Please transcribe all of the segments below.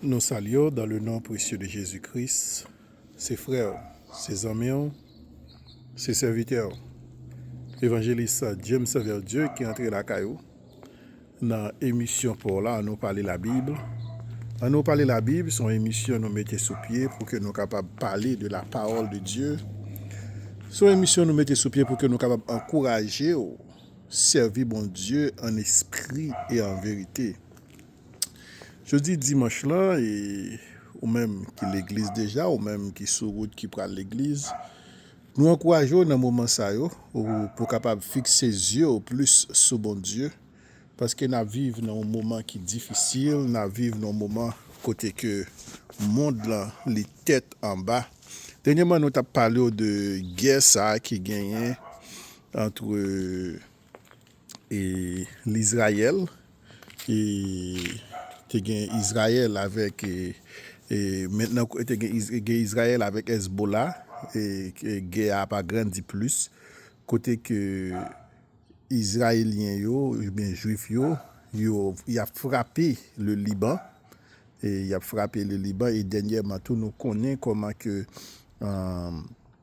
Nou salye w dan le non presye de Jezi Kris. Se frè w, se zanmi w, se sèvitè w, Evanjelis James Verdieu ki antre lakay ou nan emisyon pa w la An nou pale labib. An nou pale labib se yon emisyon nou mete sou pye pou ke nou kapab pale de la pawòl de Dye. Se yon emisyon nou mete sou pye pou ke nou kapab ankouraje w sèvi Bondye an espri e an verite. Jodi dimanch lan e ou menm ki legliz deja ou menm ki sou wout ki pral legliz nou ankouraje w nan moman sa yo pou kapab fikse zye w plis sou Bondye paske n ap viv nan yon moman ki difisil n ap viv nan yon moman kote ke mond lan li tèt anba dènyeman nou t ap pale w de gè sa ki genyen antre E Lizrayèl, e te gen Izrayèl avèk, e mentnan e te gen Izrayèl avèk Èzbola, e gè a pa grandi plis, kote ke Izrayelyen yo, oubyen Jwif yo, yo, y ap frape le Liban, e y ap frape le Liban, e dènyèman tou nou konnen kòman ke, an.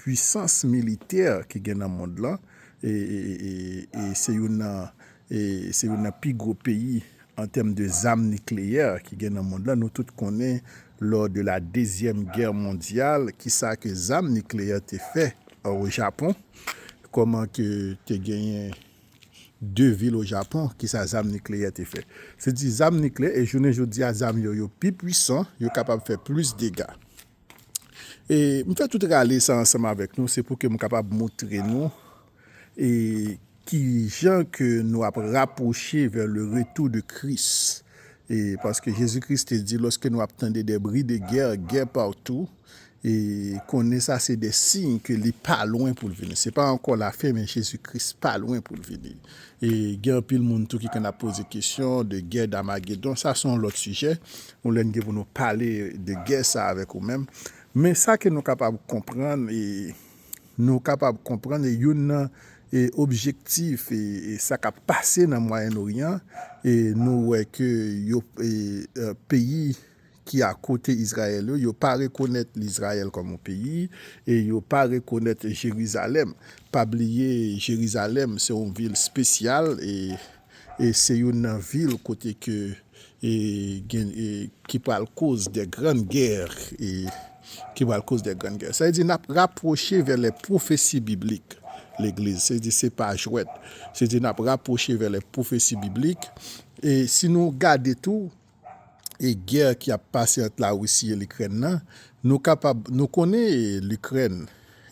Pwisans militè ki gen nan mond lan e se youn nan se youn nan pi gwo peyi an tèm de zam nikleyè ki gen nan mond lan. Nou tout konnen lò de la dezyèm gè mondyal ki sa ke zam nikleyè te fè o Japon. Kòman ke te genyen de vil o Japon ki sa zam nikleyè te fè. Se di zam nikleyè e jounen jodi a zam yo yo pi pwisan yo kapab fè plis dega. E m fè tout rale sa ansanm avèk nou se pou ke m kapab moutre nou e ki jan ke nou ap rapwoche vè le retou de Kris. E paske Jezi Kris te di lòske nou ap tande de bri de gè, gè patou, e konnen sa se de siy ke li pa lwen pou l vini. Se pa ankò lafen men Jezi Kris pa lwen pou l vini. E gen anpil moun tou ki konn ap poze kesyon de gè Damagedon. Sa se yon lòt sijè. Yon lè n gen pou nou pale de gè sa avèk ou menm. Men sa ke nou kapab konprann, nou kapab konprann e youn nan objektif sa k ap pase nan Mwayen Oryan, nou wè ke yo peyi ki a kote Izrayèl yo, yo pa rekonèt lizrayèl kòm yon peyi e yo pa rekonèt Jerizalèm. Pa bliye Jerizalèm se yon vil spesyal e. Se youn nan vil kote ke gen ki pral koz de grann gè, ki pral koz de grann gè. Sa vle di n ap rapwoche vè lè pwofesi biblik legliz. Se di se pa jwèt. Se di n ap rapwoche vè lè pwofesi biblik. E si nou gade tou e gè ki ap pase ant la Russie e Likrèn nan, nou kapab, nou konnen Likrèn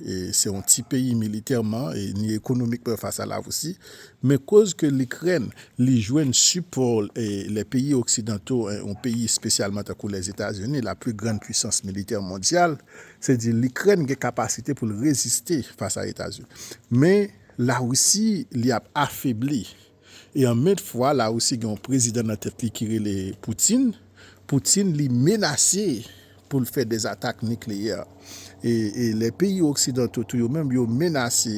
se yon ti peyi militèman e ni ekonomikman fas a la Russie, men koz ke Likrèn li jwenn sipò lè peyi oksidanto, yon peyi espesyalman tankou Lèzetazini, la pli grann pwisans militè mondyal, se di Likrèn gen kapasite pou l reziste fas a Etazini. Men la Russie li ap afebli. E an menm fwa la Russie gen yon prezidan nan tèt li ki rele Putin, Putin li menase pou l fè des attaques nucléaires. E lè peyi oksidanto tou yo menm yo menase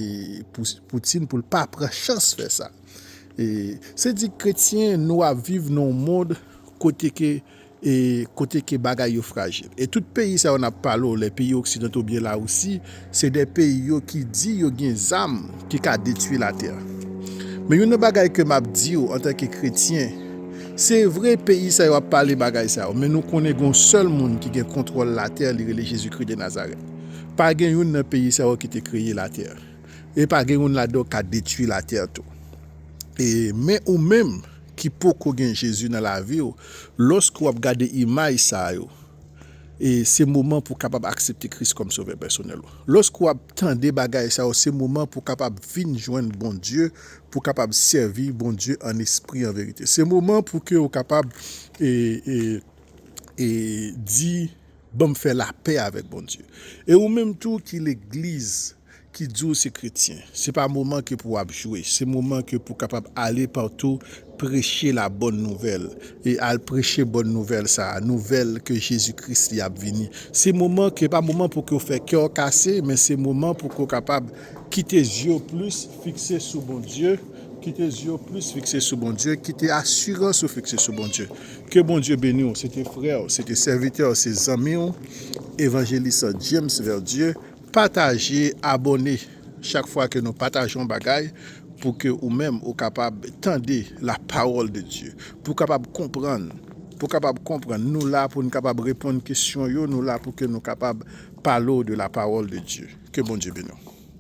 Putin pou l pa pran chans fè sa. E se di kretyen nou ap viv nan yon mond kote ke e kote ke bagay yo frajil. E tout peyi sa yo n ap pale w lè peyi oksidanto ou byen Larisi, se de peyi yo ki di yo gen zam ki ka detwi latè. Men youn nan bagay ke m ap di w antanke kretyen, se vre peyi sa yo ap pale bagay sa yo, men nou konnen gen yon sèl moun ki gen kontwòl latè li rele Jezikri de Nazarèt. Pa gen youn nan peyi sa yo ki te kreye latè. E pa gen youn ladan yo ki ka detwi latè tou. E men ou menm ki poko gen Jezi nan lavi w, lòske w ap gade imaj sa yo, e se moman pou w kapab aksepte Kris kòm Sovè pèsonèl ou. Lòske w ap tande bagay sa yo, se moman pou w kapab vin jwenn Bondye, pou w kapab sèvi Bondye an espri an verite. Se moman pou ke ou kapab e di. Banm fè lapè avèk Bondye. E ou menm tou ki legliz ki di w se kretyen, se pa moman ke pou ap jwe, se moman ke pou kapab ale patou preche la bòn nouvèl e al preche bòn nouvèl sa a, nouvèl ke Jezi Kris li ap vini. Se moman ke pa moman pou ke w fè kè w kase, men se moman pou ke w kapab kite zye w plis fikse sou Bondye, kite zye w plis fikse sou Bondye, kite asirans ou fikse sou Bondye. Ke Bondye beni w, se te frè w, se te sèvitè w, se zanmi w, Evanjelis James Verdieu, pataje, abòne, chak fwa ke nou pataje yon bagay, pou ke ou menm ou kapab tande la pawòl de Dye, pou kapab konprann, pou kapab konprann, nou la pou nou kapab reponn kesyon yo, nou la pou ke nou kapab pale w de la pawòl de Dye, ke Bondye beni w.